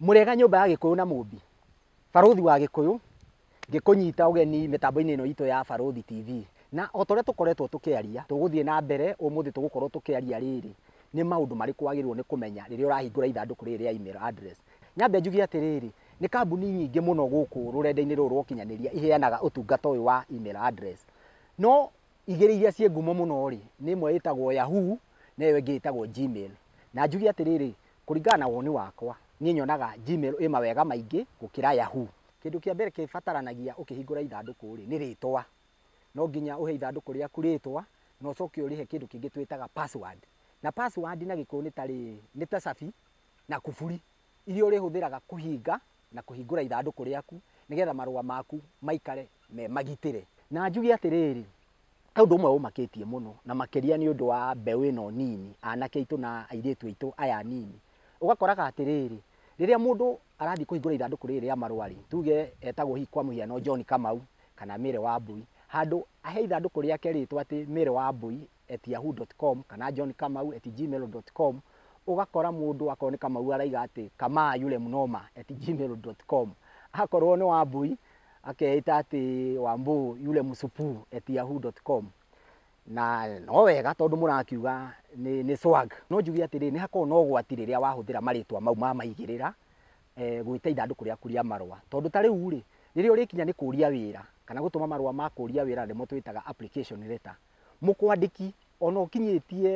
Mũrĩega nyũmba ya Gĩkũyũ na Mũmbi. Barũthi wa Gĩkũyũ ngĩkũnyita ũgeni mĩtambo-inĩ ĩno itũ ya Barũthi TV. Na o ta ũrĩa tũkoretwo tũkĩaria, tũgũthiĩ na mbere ũmũthĩ tũgũkorwo tũkĩaria rĩrĩ, nĩ maũndũ marĩkũ wagĩrĩirwo nĩ kũmenya rĩrĩa ũrahingũra ithandũkũ rĩrĩ rĩa email address. Nyambe njuge atĩrĩrĩ, nĩ kambuni nyingĩ mũno gũkũ rũrenda-inĩ rũrũ rwa ũkinyanĩria iheanaga ũtungata ũyũ wa email address. No Igĩrĩ iria ciĩ ngumo mũno-rĩ, nĩ ĩmwe ĩtagwo Yahoo na ĩyo ĩngĩ ĩtagwo Gmail. Na njuge atĩrĩrĩ, kũringana na woni wakwa, niĩ nyonaga Gmail ĩ mawega maingĩ gũkĩra Yahoo. Kĩndũ kĩa mbere kĩbataranagia ũkĩhingũra ithandũkũ-rĩ, nĩ rĩtwa. No nginya ũhe ithandũkũ rĩaku rĩtwa, na ũcoke ũrĩhe kĩndũ kĩngĩ twĩtaga password. Na password na gĩkũyũ nĩ ta rĩrĩ, nĩ ta cabi na kuburi. iria ũrĩhũthĩraga kũhinga na kũhingũra ithandũkũ rĩaku, nĩgetha marũa maku maikare me magitĩre. Na njuge atĩrĩrĩ, he ũndũ ũmwe ũmakĩtie mũno, na makĩria nĩ ũndũ wa mbeũ ĩno nini, anake aitũ na airĩtu aitũ aya anini. Ũgakoraga atĩrĩrĩ, rĩrĩa mũndũ arathiĩ kũhingũra ithandũkũ rĩrĩ rĩa marũa-rĩ, tuge etagwo hihi kwa mũhiano John Kamau kana Mary Wambũi, handũ ahe ithandũkũ rĩake rĩtwa atĩ Mary Wambũi, at yahoo.com kana John Kamau at gmail.com ũgakora mũndũ akorwo nĩ Kamau araiga atĩ kamaa yule mnoma at gmail.com akorwo nĩ Wambui akeita atĩ Wambu yule msupu at yahoo.com na no wega tondũ mũrakiuga nĩ, nĩ swag no njuge atĩrĩ nĩ hakorwo no gwati rĩrĩa wahũthĩra marĩtwa mau ma maigĩrĩra eh, gwĩta ithandũkũ rĩaku rĩa marũa tondũ ta rĩu rĩ rĩrĩa ũrĩkinya nĩ kũria wĩra kana gũtũma marũa ma kũria wĩra nĩmo twĩtaga application letter Mũkwandĩki ona ũkinyĩtie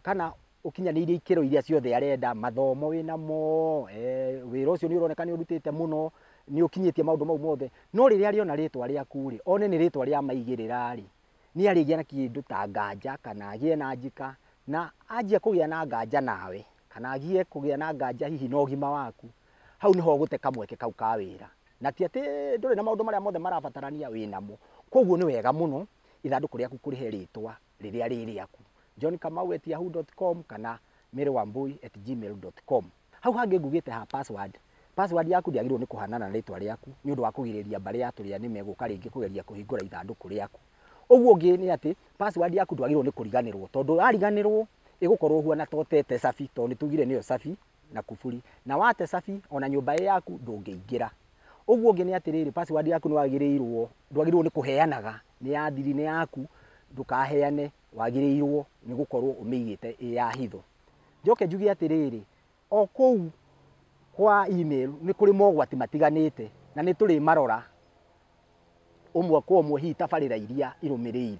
kana ũkinyanĩirie ikĩro iria ciothe arenda, mathomo wĩnamo, wĩra ũcio nĩ ũroneka nĩ ũrutĩte mũno, nĩ ũkinyĩtie maũndũ mau mothe, no rĩrĩa arĩona rĩtwa rĩaku rĩ, one nĩ rĩtwa rĩa maigĩrĩra rĩ, nĩ arĩgĩa na kĩndũ ta nganja kana agĩe na njĩka, na anjia kũgĩa na nganja nawe, kana anjia kũgĩa na nganja hihi na ũgima waku, hau nĩho ũgũte kamweke kau ka wĩra. Na ti atĩ ndũrĩ na maũndũ marĩa mothe marabatarania, wĩnamo. Kũguo nĩ wega mũno. ithandũkũ rĩaku kũrĩhe rĩtwa rĩrĩa rĩ rĩaku John Kamau at yahoo.com kana Mary Wambui at gmail.com. Hau hangĩ ngugĩte ha password, password yaku ndĩagĩrĩirwo nĩ kũhanana na rĩtwa rĩaku nĩ ũndũ wa kũgirĩrĩria mbarĩ ya tũrĩa nĩme gũka rĩngĩ kũgeria kũhingũra ithandũkũ rĩaku. Ũguo ũngĩ nĩ atĩ password yaku ndwagĩrĩirwo nĩ kũriganĩrwo tondũ yariganĩrwo ĩgũkorwo ũhuana ta ũtete cabi tondũ nĩ tugire nĩyo cabi na kuburi, na wate cabi o na nyũmba ĩ yaku ndũngĩingĩra. Ũguo ũngĩ nĩ atĩrĩrĩ, password yaku nĩ wagĩrĩirwo, ndwagĩrĩirwo nĩ kũheanaga, nĩ ya thiri, nĩ yaku, ndũkaheane, wagĩrĩirwo nĩ gũkorwo ũmĩigĩte ĩ ya hitho. Njoke njuge atĩrĩrĩ, o kũu kwa email nĩ kũrĩ mogwati matiganĩte na nĩ tũrĩmarora ũmwe kwa ũmwe hihi tabarĩra iria irũmĩrĩire.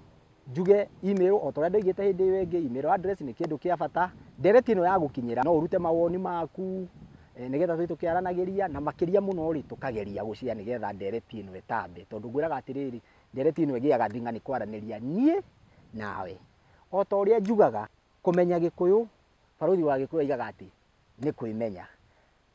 Njuge email o ta ũrĩa ndoigĩte hĩndĩ ĩyo ĩngĩ, email address nĩ kĩndũ kĩa bata. Ndereti ĩno yagũkinyĩra no ũrute mawoni maku eh, nĩgetha tũthiĩ tũkĩaranagĩria na makĩria mũno rĩ tũkageria gũcia nĩgetha ndereti ĩno ĩtambe, tondũ ngwĩraga atĩrĩrĩ ndereti ĩno ĩgĩaga thing'a nĩ kwaranĩria niĩ nawe. O ta ũrĩa njugaga kũmenya gĩkũyũ, barũthi wa gĩkũyũ aigaga atĩ nĩ kwĩmenya.